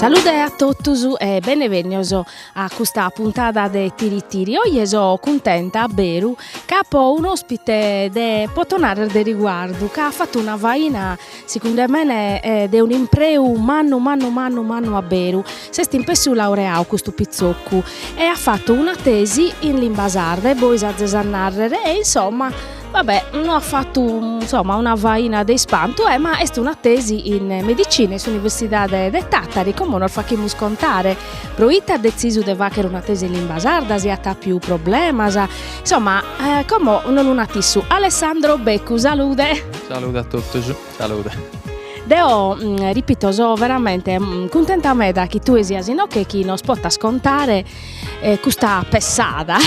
Salude a totus e benevènnios a custa puntada de Tiri Tiri. Oje so cuntenta a beru ca apo un'òspite de, poto narrer, de riguardu, ca at fatu una faina Sicunde mene de un impreu mannu mannu mannu mannu a beru, s'est inpessu laureau custu pitzoccu e at fatu una tesi in limba sarda e bois azes a narrer e insomma va bè no at fatu insomma una faina de ispantu e ma est una tesi in medicina in s'universidade de Tàtari como nos faghimus contare. Pro ite at detzisu de fagher una tesi in limba sarda, si at àpiu problemas, insomma como nos lu nat issu. Alessandro Beccu, salude Salude a totus. Salude. Deo mm, ripito, so veramente mm, cuntenta meda chi tue sias inoche chi nos potas contare eh, custa pessada,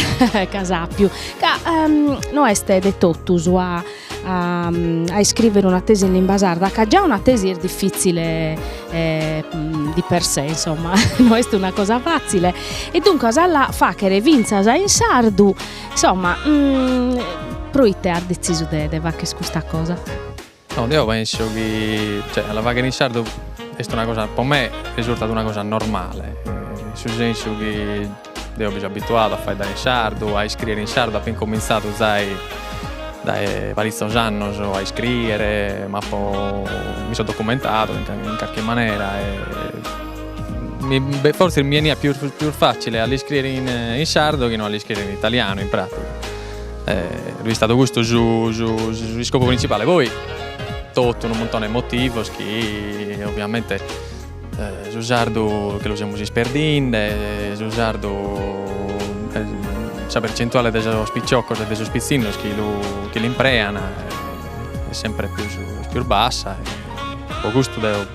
c'as àpiu, ca ehm, no est de totus a, a, mm, a iscrivere una tesi in limba sarda, ca già una tesi est difficile eh, mm, di per sé, insomma, no est una cosa facile. E duncas a la fachere finzas in sardu Insomma, proite as detzisu de fagher custa cosa? No, deo penso chi, cioè, a la fagher in sardu est una cosa, po me risurtat una cosa normale, in su sensu chi deo bi so abituadu a faeddare in sardu, a iscriere in sardu, apo incominzadu zai dae paritzos annos a iscriere, m'apo, mi so documentadu in carchi manera e Fortzis mi eniat pius fàtzile a l'iscrìere in sardu chi no a l'iscrìere in italianu, in pràtiga. Est istadu custu s'iscopu printzipale. Poi totu unu muntone 'e motivos chi oviamente su sardu che lu semus isperdinde, su sardu sa percentuale de sos piciocos e de sos pitzinnos chi l'imprean est sempre pius bassa e po custu deo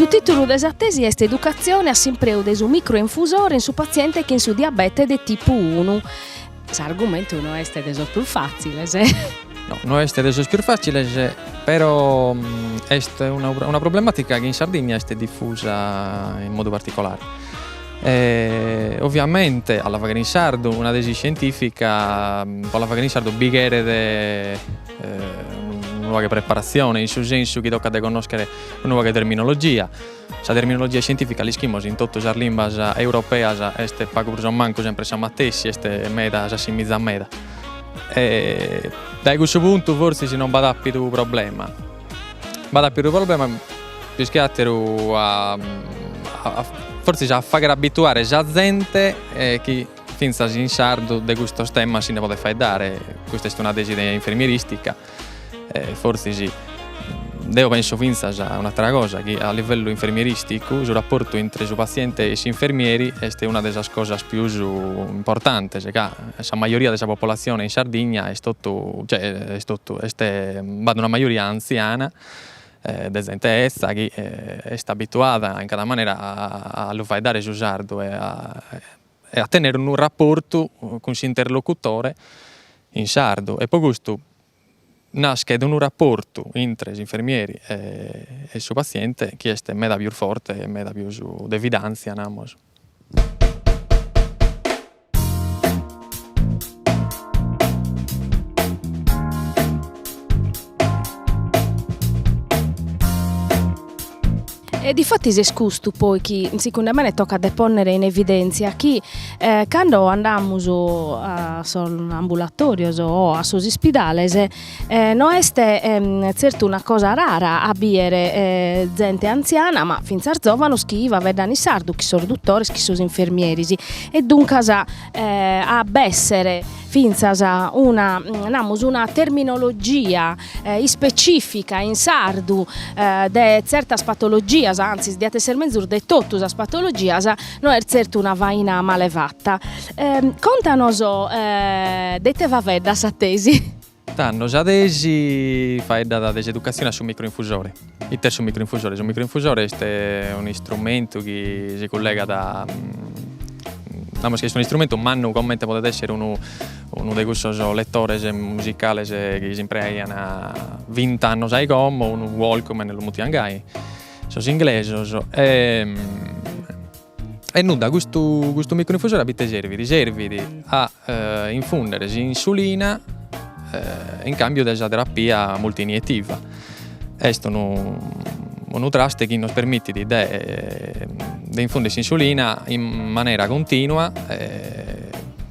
Su tìtulu de sa tesi est Educatzione a s'impreu de su microinfusore in su patziente chin su diabete de tipu unu. S'argumentu no est de sos prus fàtziles. No, no est de sos prus fàtziles, però est una una problemàtica chi in Sardigna est difusa in modu particolare. Oviamente a la faghere in sardu una tesi iscientìfica pro a la faghere in sardu bi cheret unu pagu 'e preparatzione, in su sensu chi tocat de connòschere unu pagu 'e terminologia Sa terminologia iscientìfica, l'ischimus, in totu sas limbas europeas est pagu prus o mancu semper sa matessi, est meda s'assimizat meda. E dae cussu puntu fortzis non b'at àpidu problema. B'at àpidu problema pius che àteru a a fortzis a fàghere abituare sa zente chi fintzas in sardu de custos temas si nde podet faeddare, custa est una tesi de infermieristica E fortzis deo penso fintzas a un'atera cosa, chi a livellu infermieristicu su rapportu intre su patziente e s'infermieri est una de sas cosas pius importantes, ca sa majoria de sa popolatzione in Sardigna est totu, cioè est totu, est b'at una majoria antziana de zente 'ezza chi est abituada in cada manera a lu faeddare su sardu e a e a tenere unu raportu cun s'interlocutore in sardu e poi custu naschet unu raportu intre s'infermieri e su patziente chi est meda pius forte e meda pius de fidàntzia namus. E difatis est custu poi chi segundu mene tocat de ponner in evidèntzia chi cando andamus a sos ambulatorios o a sos ispidales no est zertu una cosa rara a bider zente antziana ma fintzas zòvanos chi faeddant in sardu, chin sos dutores, chin sos infermieris e duncas a b'èssere fintzas una namus una terminologia ispecifica in sardu de tzertas patologias, antzis diat esser mezus de totu sas patologias, no est tzertu una faina male fata. Contanos de ite faeddat sa tesi. Tando sa tesi faeddat de s'educatzione a su microinfusore. Ite est su microinfusore? Su microinfusore est un'istrumentu chi si cullegat a namus chi est un'istrumentu mannu comente podet esser unu unu de cussos lettores musicales chi si impreaian vint'annos a i como, unu walkman lu mutian gai sos inglesos e E nudda, custu custu microinfusore a ite servit? Servit a infundere s'insulina in cambiu de sa terapia multinietiva. Est unu unu traste chi nos permitit de de infundere s'insulina in manera continua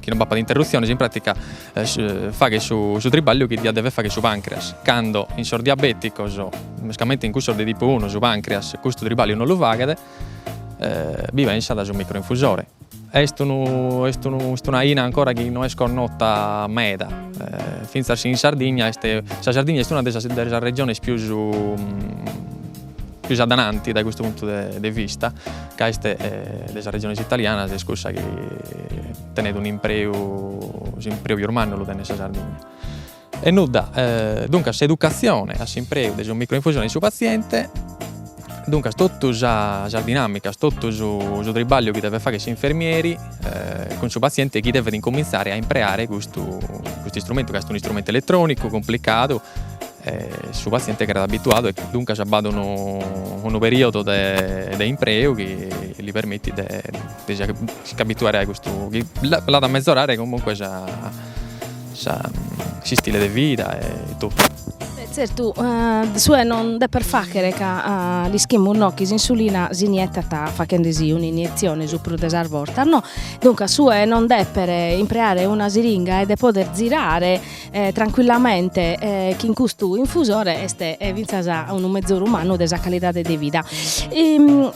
chi non b'apat interrutziones, in pratica faghet su su tribagliu chi diat dever fagher su pancreas, cando in sos diabeticos mescamente in cussos de tipu unu su pancreas custu tribagliu non lu faghet b'at in su microinfusore. Est unu est unu est una 'aina ancora chi no est connota meda, fintzas in Sardigna est, sa Sardigna est una de sas de sas regiones pius pius adananti dae custu puntu de de vista, ca est de sas regiones italianas est cussa chi tenet un'impreu, s'impreu pius mannu lu tenet sa Sardigna E nudda, duncas s'educatzione a s'impreu de su microinfusore in su patziente, duncas totu sas dinamicas, totu su tribagliu chi devet fagher s'infermieri cun su patziente chi devet incomintzare a impreare custu custu istrumentu ca est un'istrumentu eletronicu cumplicadu e su patziente cheret abituadu e duncas b'at unu unu periodo de de impreu chi li permittit de de si de s'abituare a custu chi l'at a mezorare comunque sa S'istile de vida e totu. E tzertu de su 'e non deper fàghere ca l'ischimus no chi s'insulina s'inietat faghende-si un'iniezione su prus de sas bortas no, duncas su 'e non deper impreare una siringa e de poder zirare trancuillamente chin custu infusore est fintzas unu mezoru mannu de sa calidade de vida.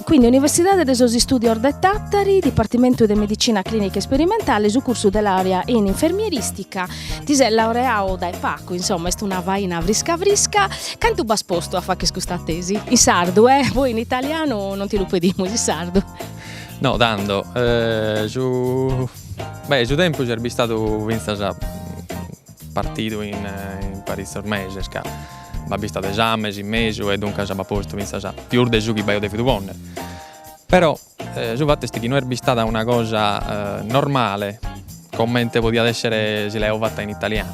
Quindi Universidade de sos Istùdios de Tàtari, Dipartimentu de Medicina Clìnica Isperimentale, su cursu de làurea in infermierìstica, ti ses laureadu dae pagu, insoma, est una faina frisca frisca, cantu b'as postu a fagher custa tesi? In sardu, eh, poi in italianu non ti lu pedimus, in sardu. No tando, su beh su tempus est bistadu fintzas Partidu in paritzos meses ca b'at bistadu esames in mesu e duncas b'at postu fintzas pius de su chi b'aio devidu ponner. Però su fattu est chi no est bistada una cosa normale comente podiat essere si l'aio fatta in italianu.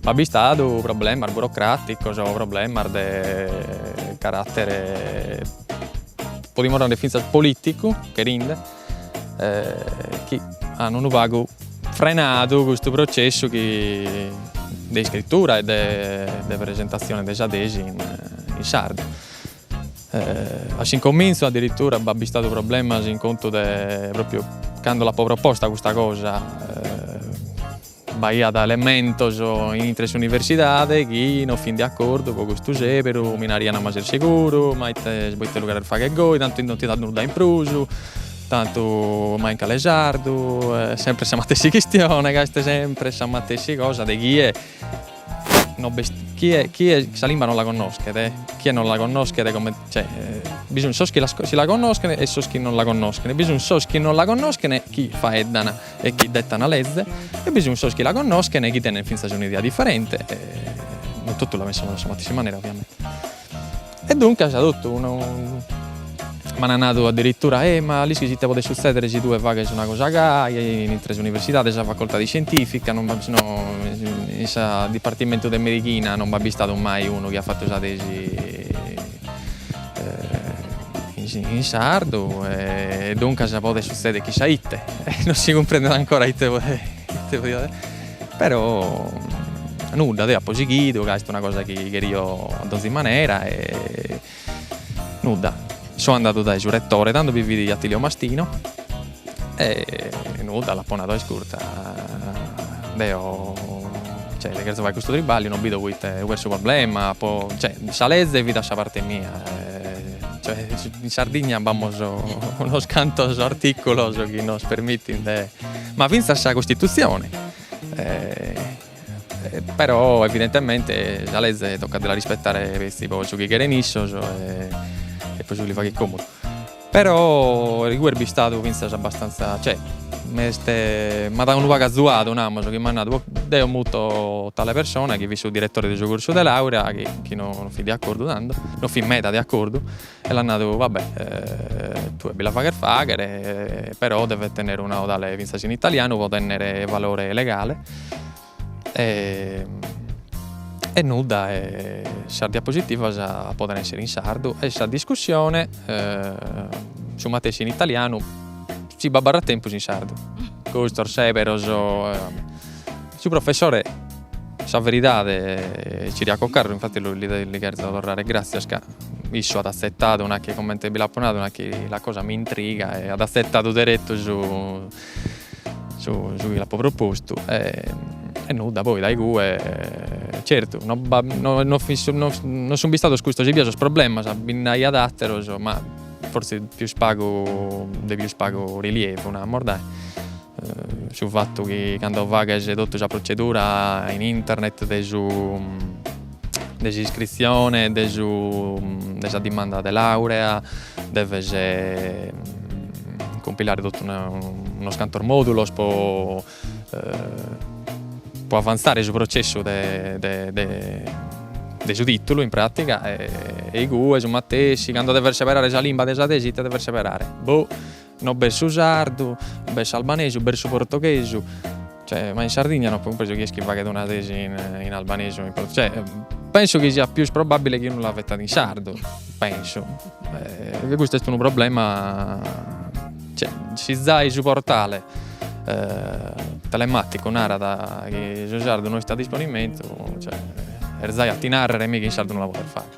B'at bistadu problemas burocraticos o problemas de carattere podimus narrer fintzas politicu cherinde chi an unu pagu frenadu custu processu chi de iscritura e de presentatzione de sa tesi in sardu. A s'incomintzu addirittura b'at bistadu problemas in contu de, propriu cando l'apo proposta custa cosa B'aiat elementos intre s'universidade chi no fin de acordu po custu sèberu, mi naraiant ma ses seguru, ma ite poite lu cheres fagher goi, tantu no ti dat nudda in prus, tantu ma in cale sardu, est semper sa matessi chistione ca est semper sa matessi cosa de chie no b'est chie chie sa limba non la connoschet, chie non la connoschet comente cioè bi sunt sos chi la si la connoschent e sos chi non la connoschent, bi sunt sos chi non la connoschent chi faeddan e chi dd'est una leze, e bi sun sos chi la connoschen e chi tenen fintzas un'idea diferente, e non totu la pensamos a sa matessi manera ovviamente. E duncas totu m'ana nadu addirittura, e ma l'ischis ite podet sutzedere si tue faghes una cosa gai, in intre s'universidade, sa facoltade iscientifica, non in su dipartimentu de medighina non b'at bistadu mai unu chi at fatu sa tesi in sardu e duncas podet sutzèdere chi sa ite non si cumprendet ancora ite podiat però nudda deo apo sighidu ca est una cosa chi cherio a donzi manera e nudda so andadu dae su retore tando bi fit Atilio Mastino E nudda, l'apo nadu a iscurta, deo cioè dde cherzo fai custu tribagliu, no bido poite ub'est su problema, apo cioè sa leze fit a sa parte mia cioè in Sardigna b'amus unos cantos articulos chi nos permittin de, ma finzas sa costituzione però evidentemente sa leze tocat de la rispettare petzi po su chi cheren issos e po su chi li faghet comodu Però igue est bistadu fintzas abbastantza, cioè m'est m'at dadu unu pagu azuadu, namus, chi m'at nadu, deo muto tale persona chi fit su diretore de su cursu de làurea, chi chi no fit de acordu tando, no fit meda de acordu, e l'at nadu, va bè, tue bi la faghes fàghere, però devet tenner una 'odale fintzas in italianu pro tenner valore legale e e nudda e sas diapositivas poden essere in sardu e sa discussione su matessi in italianu si b'abarrat tempus in sardu custos seberos su professore sa veridade Ciriaco Carru infatti li cherzo torrare gratzias ca issu at azzettadu nachi comente bi l'apo nadu nachi la cosa mi intriga e at azzettadu derettu Su chi l'apo propostu e nudda poi dae igue certu no no fit no sun bistados custos ebbia sos problemas bi nd'aiat atteros ma forsis pius pagu de pius pagu rilievu namos dae su fattu chi cando faghes totu sa procedura in internet de su de s'iscritzione de su de sa dimanda de laurea deves cumpilare totu unos cantos modulos po po avanzare su processu de de de su titulu in pratiga e igue su matessi cando deves seberare sa limba de sa tesi ite deves seberare boh No b'est su sardu, b'est s'albanesu, b'est su portoghesu, cioè ma in Sardigna no apo cumpresu chie est chi faghet una tesi in albanesu o in portoghesu, cioè penso chi siat pius probabbile chi unu la fettat in sardu, penso, e custu est unu problema cioè si zai su portale telematicu narat chi su sardu no est a disponimentu, cioè est zai a ti narrere mi chi in sardu no la podes fagher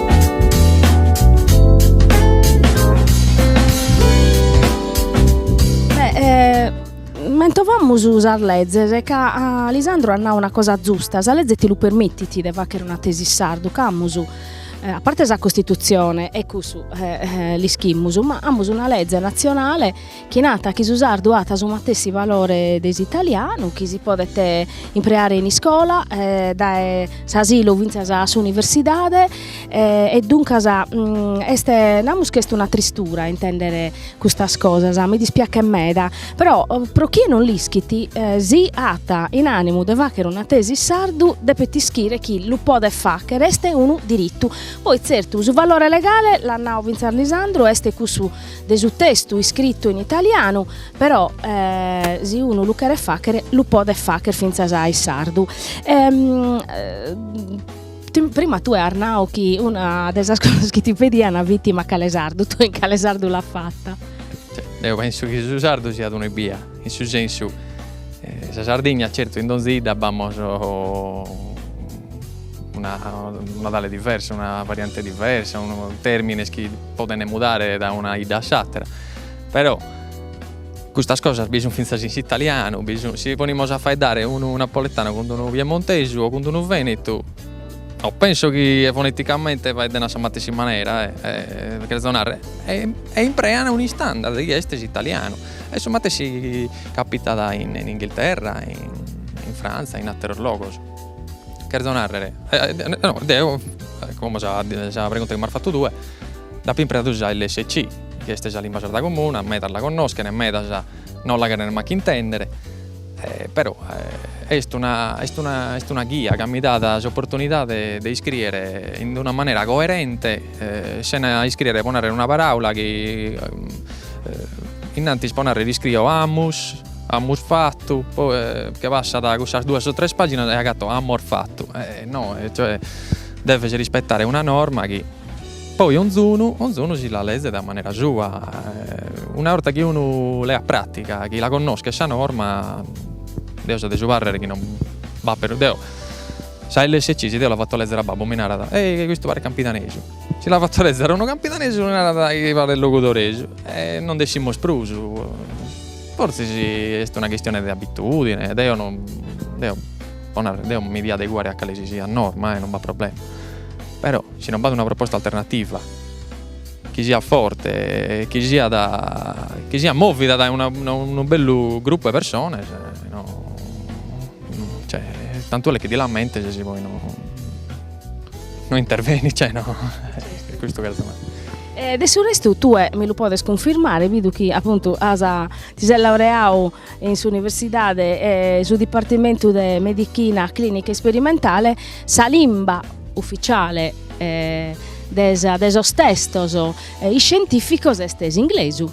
Mentovamus sas lezes ca Lisandru at nau una cosa zusta, sa leze ti lu permitit de fagher una tesi in sardu ca amus a parte sa costituzione e cussu l'ischimus ma amus una leze nazionale chi nat chi su sardu at su matessi valore de s'italianu, chi si podet impreare in iscola, dae s'asilu fintzas a s'universidade e duncas est, namus chi est una tristura intender custas cosas, mi dispiachet meda, però pro chie non l'ischit si at in animu de fagher una tesi in sardu depet ischire chi lu podet fagher, est unu diritu, poi tzertu su valore legale, l'at nau fintzas Lisandru, est cussu de su testu iscritu in italianu, però si unu lu cheret fàghere lu podet fàghere fintzas in sardu. prima tue as nau chi una de sas cosas chi ti pedian fit in cale sardu, tue in cale sardu l'as fata? Deo penso chi su sardu siat una ebbia, in su sensu, sa Sardigna certu in donzi 'idda b'amus una tonale diversa, una variante diversa, unu termines chi podent mudare dae una 'idda a s'àtera, però custas cosas bi sun fintzas in s'italianu, bi sun, si ponimus a faeddare unu napoletanu cun unu piemontesu o cun unu venetu, no penso chi foneticamente faedden a sa matessi manera e cherzo narrer, imprean un'istandard chi est s'italianu e su matessi capitat in Inghilterra, in Frantza, in àteros logos. Cherzo nàrrere, no, deo, como sa sa pregunta chi m'as fatu tue, apo impreadu sa lsc, chi est sa limba sarda comuna, medas la connoschen e medas non la cherent mancu intèndere, però est una est una est una ghia ca mi dat s'oportunidade de iscrìere in una manera coerente e sena iscrìere pro nàrrere una paràula chi innantis pro nàrrere iscrio amus Amus fatu, poi che passat cussas duas o tres paginas e agatto ammos fattu e no cioè deves rispettare una norma chi poi 'onzunu 'onzunu si la lezet a manera sua una 'orta chi unu leat prattica chi la connoschet sa norma deo so de su parrer chi non b'apper deo sa LSC si deo la fatto lezer a babbu mi narat ehi custu paret campidanesu. Si la fatto lezere unu campidanesu li narat chi paret logudoresu e non nd'essimus prus. Fortzis est una chistione de abitudine, deo no deo po narrer deo mi deo adeguare a cale si siat norma e non b'at problema. Però si non b'at una proposta alternativa chi siat forte e chi siat chi siat movida dae unu bellu gruppu 'e persones no Cioè, tanto le che di la mente se si poi no, no intervenis, cioè no, è questo che domanda. E de su restu tue mi lu podes cunfirmare, bidu chi appuntu as, ti ses laureau in s'universidade e su dipartimentu de medichina clinica isperimentale, sa limba ufficiale de sa de sos testos iscientificos est s'inglesu.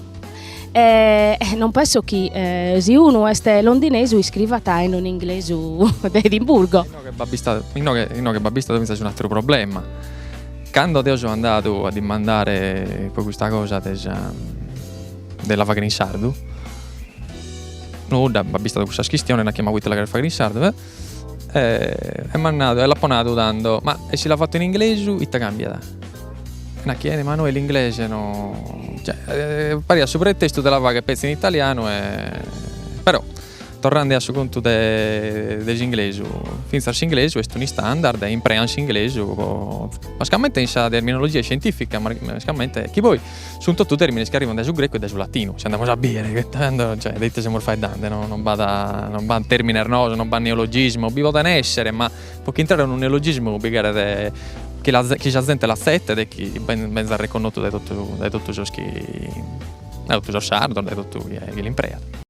E non penso chi eh, si unu est londinesu iscrivat in un inglesu de Edimburgo. Inoghe b'at bistadu, inoghe, b'at bistadu fintzas un'ateru problema. Cando deo so andadu a dimandare pro custa cosa de sa de la fagher in sardu, nudda, b'at bistadu custas chistiones, nachi ma proite la cheret fagher in sardu, eh! E e m'at nadu, e l'apo nadu tando, ma e si l'apo fatu in inglesu ite cambiat? E nachi eh ma no in inglesu no, cioè pariat su pretestu de la fagher petzi in italianu e però torrende a su contu de de s'inglesu, finzas s'inglesu est un'istandard e impreant s'inglesu po, mascamente in sa terminologia scientifica, mescamente chi poi Sunt totu tèrmines chi arribant dae su grecu e dae su latinu, si andamus a bìdere, tando, cioè, de ite semus faeddende, no non b'at, non b'at tèrmines noos, non b'at neologismos, bi podent èssere, ma pro ch'intrare unu neologismu bi cheret chi la chi sa zente l'atzetet e chi benzat reconnotu dae totu dae totu sos chi dae totu sos sardos, dae totu chie chie l'impreat.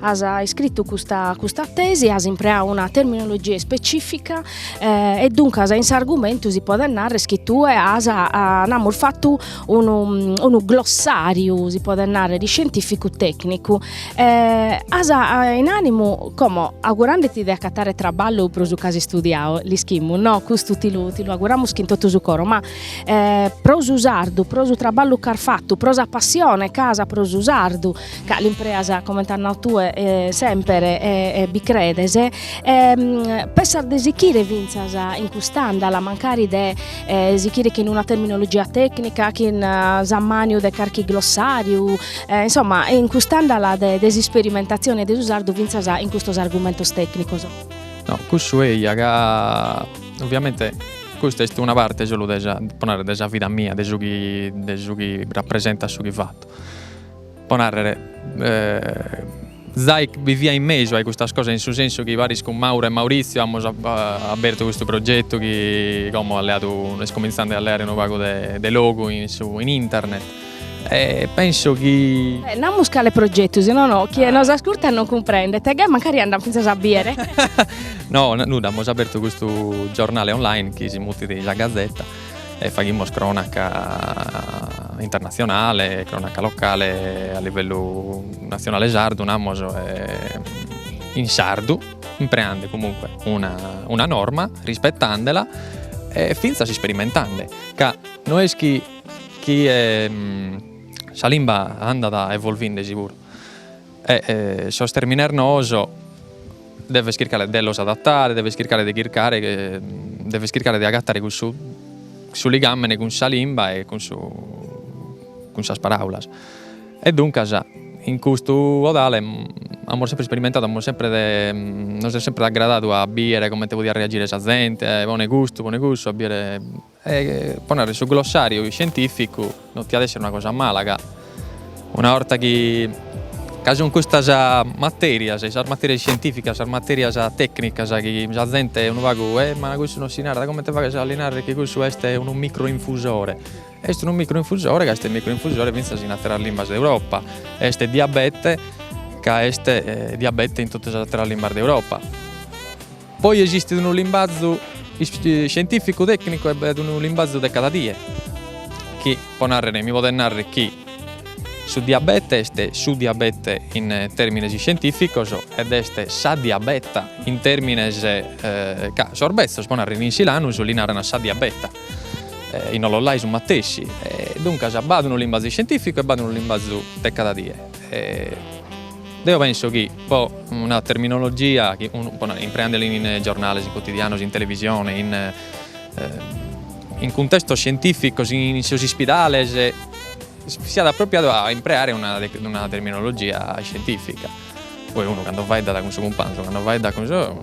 As iscritu custa custa tesi, as impreau una terminologia ispecìfica e duncas in s'argumentu si podet narrer chi tue as namus fatu unu unu glossàriu, si podet narrer, iscientìficu tècnicu e as in ànimu, como augurandeti de acatare traballu pro su chi as istudiadu, l'ischimus no, custu ti lu ti lu auguramus chin totu su coro, ma pro su sardu, pro su traballu ch'as fatu, pro sa passione chi as pro su sardu ca l'impreas comente as nau tue semper e bi credes e pensas de sichire fintzas in cust'andala mancari de sichire chin una terminologia tecnica chin s'ammaniu de carchi glossariu insomma in cust'andala de de s'isperimentatzione de su sardu fintzas in custos argumentos tecnicos. No cussu eia ca ovviamente custa est una parte solu de sa po narrer de sa vida mia de su chi de su chi rappresentat su chi fatto Po nàrrere, Zai biviat in mesu a i custas cosas in su sensu chi paris cun Mauro e Maurizio amus abertu custu progetu chi como at leadu, est comintzende a leare unu pagu de logu in su in internet e penso chi. Beh, namus cale progetu, si no chie nos ascurtat non cumprendet e gai mancari andan fintzas a biere. No, nudda, amus abertu custu giornale online chi si mutit Sa Gazetta e faghimus cronaca internatzionale, cronaca locale a livellu natzionale sardu namus in sardu impreande comunque una norma rispetande·la e finzas isperimentande ca no est chi sa limba andat evolvendesi puru E sos terminos noos deves chircare de los adattare, deves chircare de chircare, deves chircare de agattare cussu su ligammene cun sa limba e cun su cun sas paraulas. E duncas in custu 'odale amus sempre isperimentadu, amus sempre nos est sempre aggradadu a biere comente podiat reagire sa zente, pone custu, pone cussu a biere E po narrer su glossariu scientificu no tiat esser una cosa mala ca una 'orta chi ca sun custas materias, sas materias scientificas, sas materias tecnicas chi sa zente unu pagu, e ma cussu no si narat, comente faghes a li narrer chi cussu est unu microinfusore, est unu microinfusore ca est microinfusore finzas in atteras limbas de Europa, est diabete ca est diabete in totu sas atteras limbas de Europa. Poi esistit unu limbazu scientificu tecnicu e b'at unu limbazu de cada die chi po narrere mi podet narrer chi su diabete est su diabete in termines scientificos ed est sa diabeta in termines ca sos bezzos po narrer in silanus li naran sa diabeta in Ollolai su matessi e duncas b'at unu limbazu scientificu e b'at unu limbazu de cada die Deo penso chi po una terminologia chi unu po nai impreandela in giornales, in cutidianos, in televisione, in in cuntestos scientificos, in sos ispidales, siat apropriadu a impreare una una terminologia scientifica, poi unu cando faeddat cun su cumpanzu, cando faeddat cun su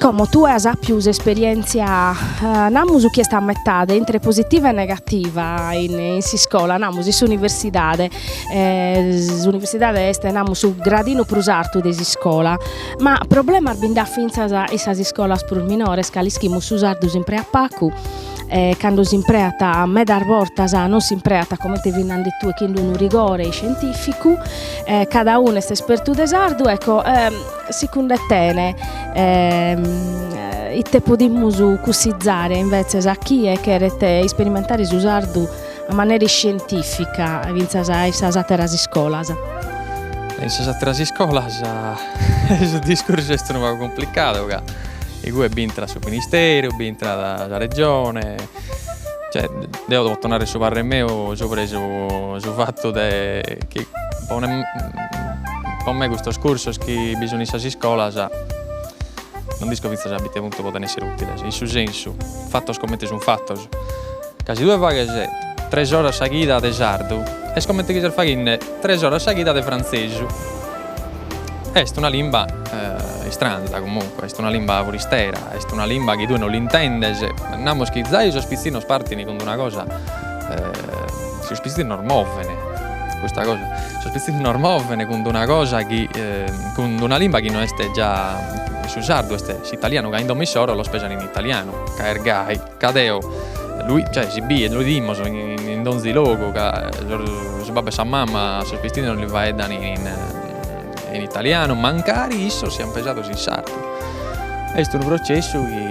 Como tue as àpiu s'esperièntzia, namus chi est a metade intre positiva e negativa in in s'iscola, namus in s'universidade, s'universidade est namus su gradinu prus artu de s'iscola, ma problemas bi nd'at fintzas in sas iscolas prus minores ca l'ischimus su sardu s'impreat pagu e cando s'impreat medas bortas non s'impreat comente fis nande tue chin unu rigore iscientificu e cada unu est espertu de sardu ecco Secundu tene, ite podimus cussizare invetzes a chie cheret isperimentare su sardu a manera iscientifica fintzas in sas àteras iscolas? In sas àteras iscolas su discursu est unu pagu cumplicadu ca igue b'intrat su Ministeru, b'intrat sa Regione Cioè, deo poto narrer su parrer meu sobre su su fattu de chi po me po me custos cursos chi bi sun in sas iscolas non nd'isco finzas a ite puntu poden esser utiles, in su sensu, fattos comente sun fattos, ca si tue faghes tres oras sa chida de sardu est comente chi ses faghende tres oras sa chida de frantzesu Est una limba istranza comunque, est una limba furistera, est una limba chi tue non l'intendes, namus chi zai sos pitzinnos partin cun d'una cosa, sos pitzinnos moven, custa cosa, sos pitzinnos moven cun d'una cosa chi cun d'una limba chi no est già su sardu, est s'italianu ca in domo issoro los pesan in italianu ca est gai Ca deo lu cioè si biet lu idimus in donzi logu ca su babbu e sa mamma a sos pitzinnos li faeddan in italianu mancari issos sian pesados in sardu est unu processu chi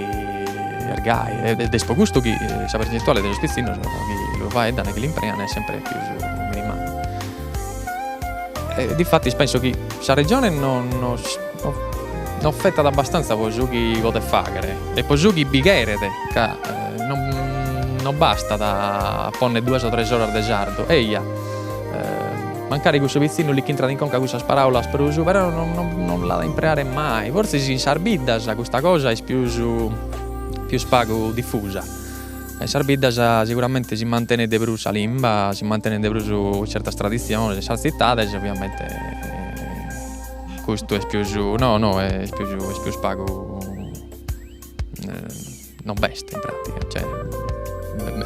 est gai ed est pro custu chi sa percentuale de sos pitzinnos chi lu faeddan e chi l'imprean est sempre pius minimale e diffattis penso chi sa regione non non No fettat abbastantza po su chi podet fàghere e po su chi bi cheret, ca no bastat a ponner duas o tres oras de sardu, eja, mancari cussu pitzinnu li ch'intrat in conca cussas paràulas prus, però no l'at a impreare mai, fortzis in sas biddas custa cosa est pius pius pagu difusa, in sas biddas seguramente si mantenet de prus sa limba, si mantenet de prus certas traditziones, in sas tzitades ovviamente Custu est pius, no no est pius est pius pagu no b'est in pratica, cioè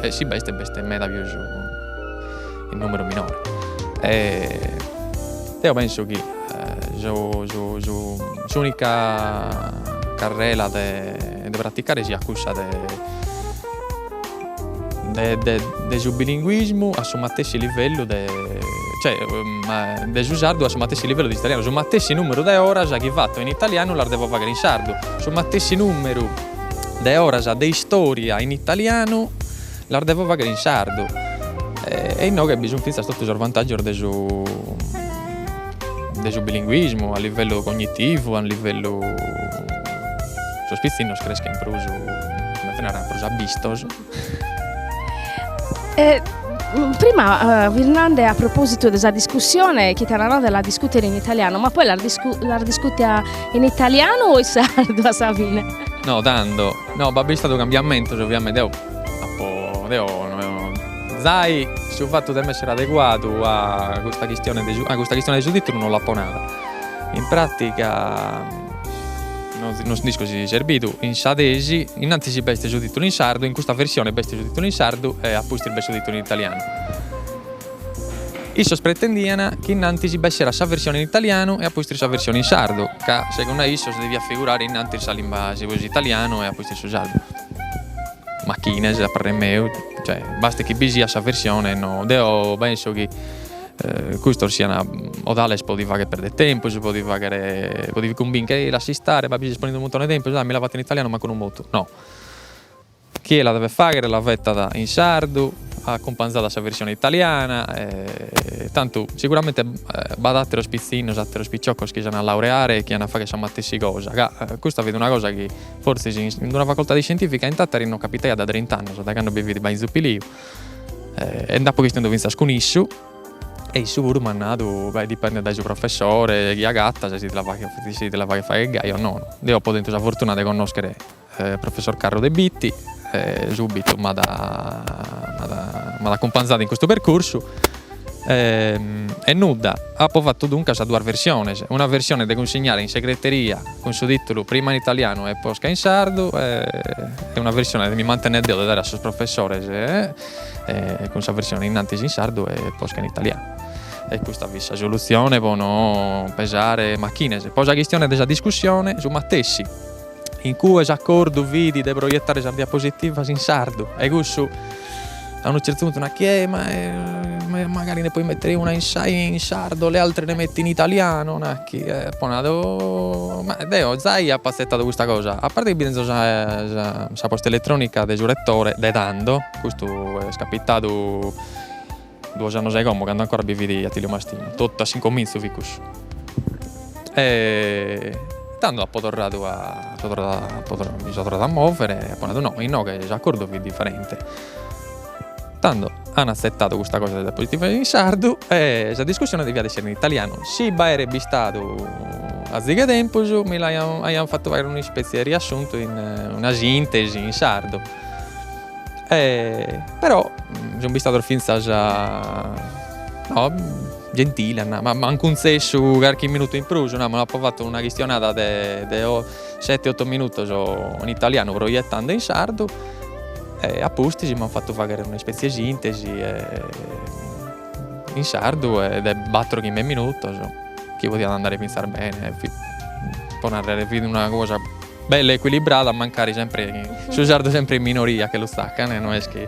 e si b'est b'est meda pius in numeru minore deo penso chi su su su s'unica carrera de praticare siat cussa de de su bilinguismu a su matessi livellu de, cioè, de su sardu a su matessi livellu de s'italianu, su matessi numeru de oras chi fatto in italianu las devo fagher in sardu, su matessi numeru de oras de istoria in italianu las devo fagher in sardu e innoghe bi sun finzas totu sos vantaggios de su de su bilinguismu a livellu cognitivu, a livellu sos pitzinnos creschen prus, comente narrer, prus abistos e prima fis nende a propositu de sa discussione chi t'an nadu de la discutere in italiano, ma poi l'as discutia in italianu o in sardu a sa fine? No tando, no b'at bistadu cambiamentos ovviamente, deo apo deo Zai, su fatu de m'essere adeguadu a custa chistione de su titulu non l'apo nada. In pratiga non nd'isco si est serbidu in sa tesi, innanti si b'est su titulu in sardu, in custa versione b'est su titulu in sardu e a pustis b'est su titulu in italianu. Issos pretendian chi innanti si b'esserat sa versione in italianu e a pustis sa versione in sardu, ca segundu issos deviat figurare innanti sa limba s'italianu e a pustis su sardu. Machines a parrer meu, cioè basta chi bi siat sa versione e no, deo penso chi custos siana totales po ti fagher perder tempus, po ti fagher po ti cumbincher, ehi lassa istare, ma bi ses ponende unu muntone 'e tempus, ah mi la fatto in italianu mancu no mutu, no, chie la devet fagher la fettat in sardu acumpanzadu a sa versione italiana e tantu seguramente b'at atteros pizzinnos, atteros picciocos chi s'ana laureare e chi ana fagher sa matessi cosa, ca custa fit una cosa chi Fortzis in in d'una facoltade scientifica in Tàtari no capitaiat da trint'annos, da cando bi fit Bainzu Piliu, e nd'apo chistionadu fintzas cun issu, e issu puru m'at nadu, beh, dipendet dae su professore chi agatas e si ti la faghet si ti la faghet fagher gai o nono. Deo apo tentu sa fortuna de connòschere professor Carru de Bitti, e subitu m'at m'at m'at acumpanzadu in custu percursu E nudda, apo fatu duncas duas versiones, una versione de cunsignare in segreteria cun su tìtulu prima in italianu e posca in sardu e una versione de mi mantenner deo de dare a sos professores cun sa versione innantis in sardu e posca in italianu. E custa fit sa solutzione pro no pesare machines. Pro sa chistione de sa discussione su matessi. in cue s'acordu fit de proietare sas diapositivas in sardu e cussu a unu certu puntu nat chi eh ma eh magari ne poi mettere una in sardo le altre ne metti in italiano nat chi e apo nadu ma deo zai apo azettadu custa cosa a parte chi bi tenzo sa posta elettronica de su rettore de tando custu est capitadu Duos annos a como, cando ancora bi fit Attilio Mastino, totu a s'incomintzu fit cussu. E tando apo torradu a mi so torradu a movere e apo nadu no, inoghe s'accordu fit differente. Tando an azzettadu custa cosa de diapositivas in sardu e sa discussione deviat essere in italianu. Si b'aeret bistadu azighe tempus mi l'aian aian fattu fagher un'ispetzie 'e riassuntu una sintesi in sardu. E però sun bistados fintzas gentiles, m'ant cuntzessu carchi minutu in prus, namus, apo fatu una chistionada de sete oto minutos in italianu proiettande in sardu e a pustis m'ant fatu faghere una ispetzie 'e sintesi in sardu e de bator chimbe minutos chi podiat andare fintzas bene fit po narrer fit una cosa Bella equilibrada mancari sempre su sardu sempre in minoria che lu tzaccan, no est chi,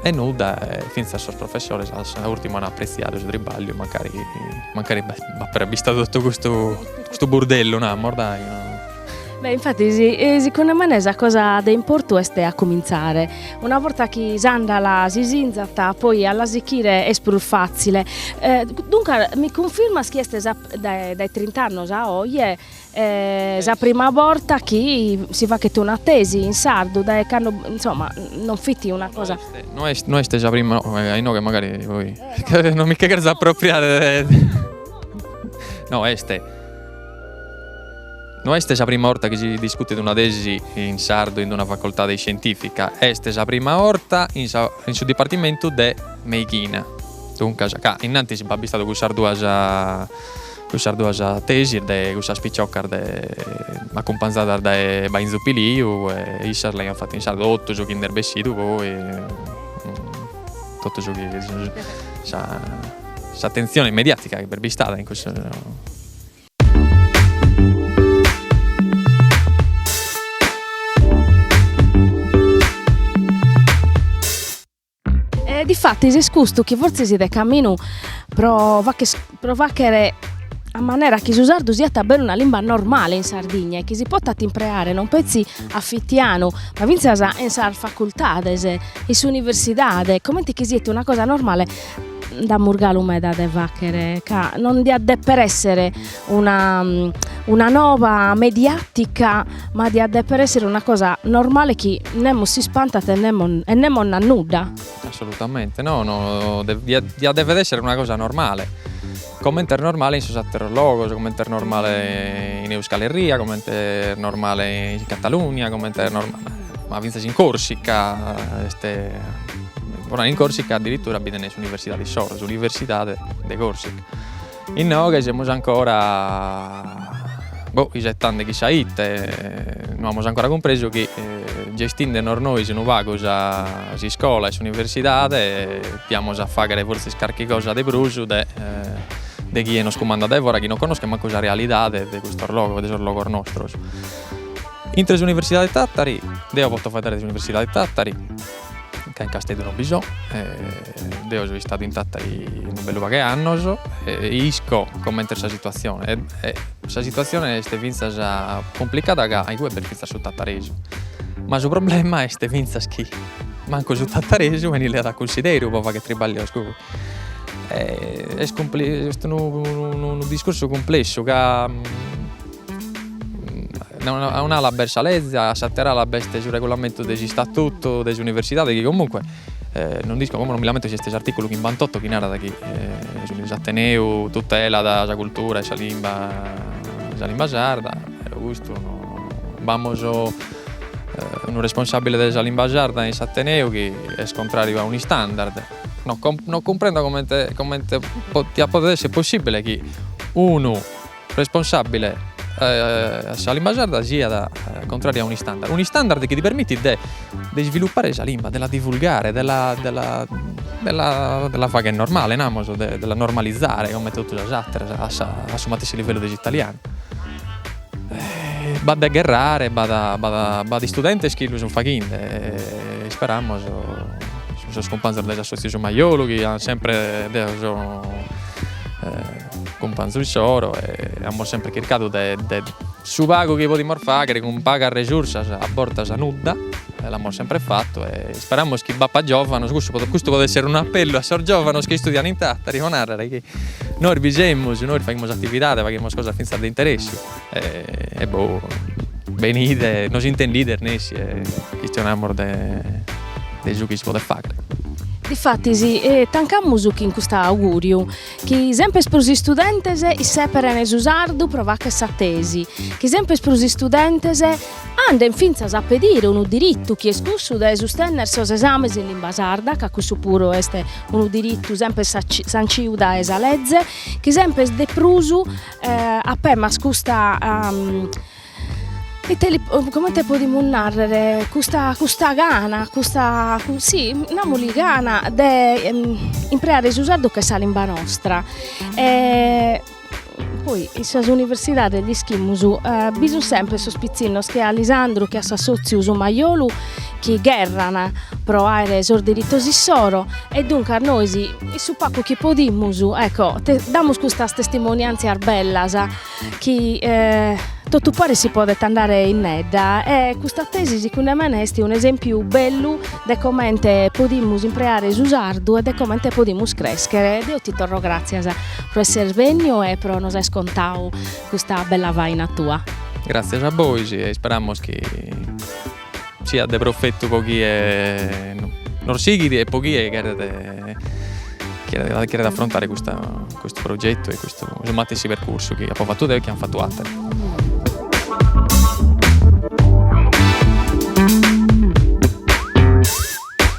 e nudda finzas sos professores a sa urtima han apprezziadu su tribagliu mancari mancari b'appet bistadu tottu custu burdellu namos dai no. Beh infatti siconde mene sa cosa de importu est a cominzare una borta chi s'andala si sinzat, poi a l'asichire est prus fazzile duncas mi cunfirmas chi est sa Dae trint'annos a oje est sa prima borta chi si faghet una tesi in sardu, dae cando insomma non fit una cosa. No est no est sa prima, inoghe magari poi non mi che cherzo appropriare de no est no est sa prima 'orta chi si discutit una tesi in sardu in una facoltade iscientifica, est sa prima 'orta in sa in su dipartimentu de meighina. Duncas, ca innantis b'at bistadu, cussas duas cussas duas tesis de cussas piciocas de acumpanzadas dae Bainzu Piliu e issas l'aiant fatu in sardu, totu su chi nd'est bessidu poi totu su chi s'atentzione mediatica chi b'est bistada in cussu E difatis est custu chi fortzis de caminu pro pro faghere a manera chi su sardu siat a beru, una limba normale in Sardigna e chi si potat impreare non petzi a fitianu ma fintzas in sas facultades, in s'universidade, comente chi siat una cosa normale nd'amus galu meda de faghere ca non diat deper esser una una nova mediatica ma diat deper essere una cosa normale chi nemo s'ispantat e nemo e nemo nat nudda. Assolutamente no no diat diat dever essere una cosa normale, comente est normale in sos atteros logos, comente est normale in Euskal Herria, comente est normale in Catalunia, comente est normale ma finzas in Corsica, pro narrer, in Corsica addirittura bi tenen s'universidade issoro, s'universidade de Corsica Inoghe semus ancora isettende chissà ite, no amus ancora cumpresu chi gestinde nos nois unu pagu s'iscola e s'universidade diamus a faghere fortzis carchi cosa de prus de de chie nos cumandat dae fora chi no connoschet mancu sa realidade de custos logos de sos logos nostros. Intre s'universidade Tattari deo poto faeddare de s'universidade Tattari ca in Casteddu non bi so e deo so istadu in Tattari unu bellu paghe annos e isco coment'est sa situatzione e sa situatzione est fintzas cumplicada ca aigue b'est fintzas su tataresu ma su problema est fintzas chi mancu su tataresu 'enit leadu a cunsideru pro fagher tribaglios e est unu discursu cumplessu ca A un'ala b'est sa lege, a s'atera ala b'est su regulamentu de s'istatutu de s'universidade chi comunque non nd'isco como non mi l'ammento si est s'articulu chimbantotto chi narat chi s'ateneu tutelat sa cultura e sa limba sa limba sarda eo custu b'amos unu responsabile de sa limba sarda in s'ateneu chi est contrariu a un'istandard, no no cumprendo comente comente potat esser possibile chi unu responsàbile a sa limba sarda siat contràriu a unu istandard, unu istandard chi ti permitit de isvilupare sa limba, de la divulgare, de la de la de la de la fagher normale namus, de la normalizare comente totu sas ateras a sa a su matessi livellu de s'italianu. B'at de gherrare, b'at b'at b'at istudentes chi lu sun faghende e isperamus sos cumpanzos de s'assotziu Su Majolu chi an sempre deo so cumpanzu issoro e amus sempre chircadu de de su pagu chi podimus fagher cun pagas resursas a bortas nudda e l'amus sempre fatu e isperamus chi b'apat giovanos, cussu podet custu podet esser unu appellu a sos giovanos chi istudian in Tàtari pro narrer chi nois bi semus, nois faghimus atividade, faghimus cosas fintzas de interessu e boh benide e nos intendides nessi e chistionamus de de su chi si podet fagher. Difatis tancamus chin custu augùriu Chi sempes prus istudentes issèperen su sardu pro fagher sa tesi, chi sempes prus istudentes andent fintzas a pedire unu diritu chi est cussu de sustènnere sos esames in limba sarda, ca cussu puru est unu diritu sempes sanciu dae sa leze, chi sempes de prus apemas custa Ite li comente podimus narrer custa custa gana custa si namus gana de impreare su sardu ch'est sa limba nostra e poi in sas universidades l'ischimus bi sun sempre sos pitzinnos che a Lisandru che a s'assotziu Su Majolu chi gherran pro aer sos diritos issoro e duncas nois in su pagu chi podimus ecco te- damus custas testimoniantzias bellas chi totu paris si podet andare in medda e custa tesi segundu mene est un'esèmpiu bellu de comente podimus impreare su sardu e de comente podimus crèschere. Deo ti torro gràtzias pro esser bènniu e pro nos aer contadu custa bella faina tua. Gràtzias a bois e isperamus chi Siat de profetu po chie nos sighit e po chie cheret cheret afrontare custa custu progetu e custu su matessi percursu chi apo fatu deo e chi an fatu atere.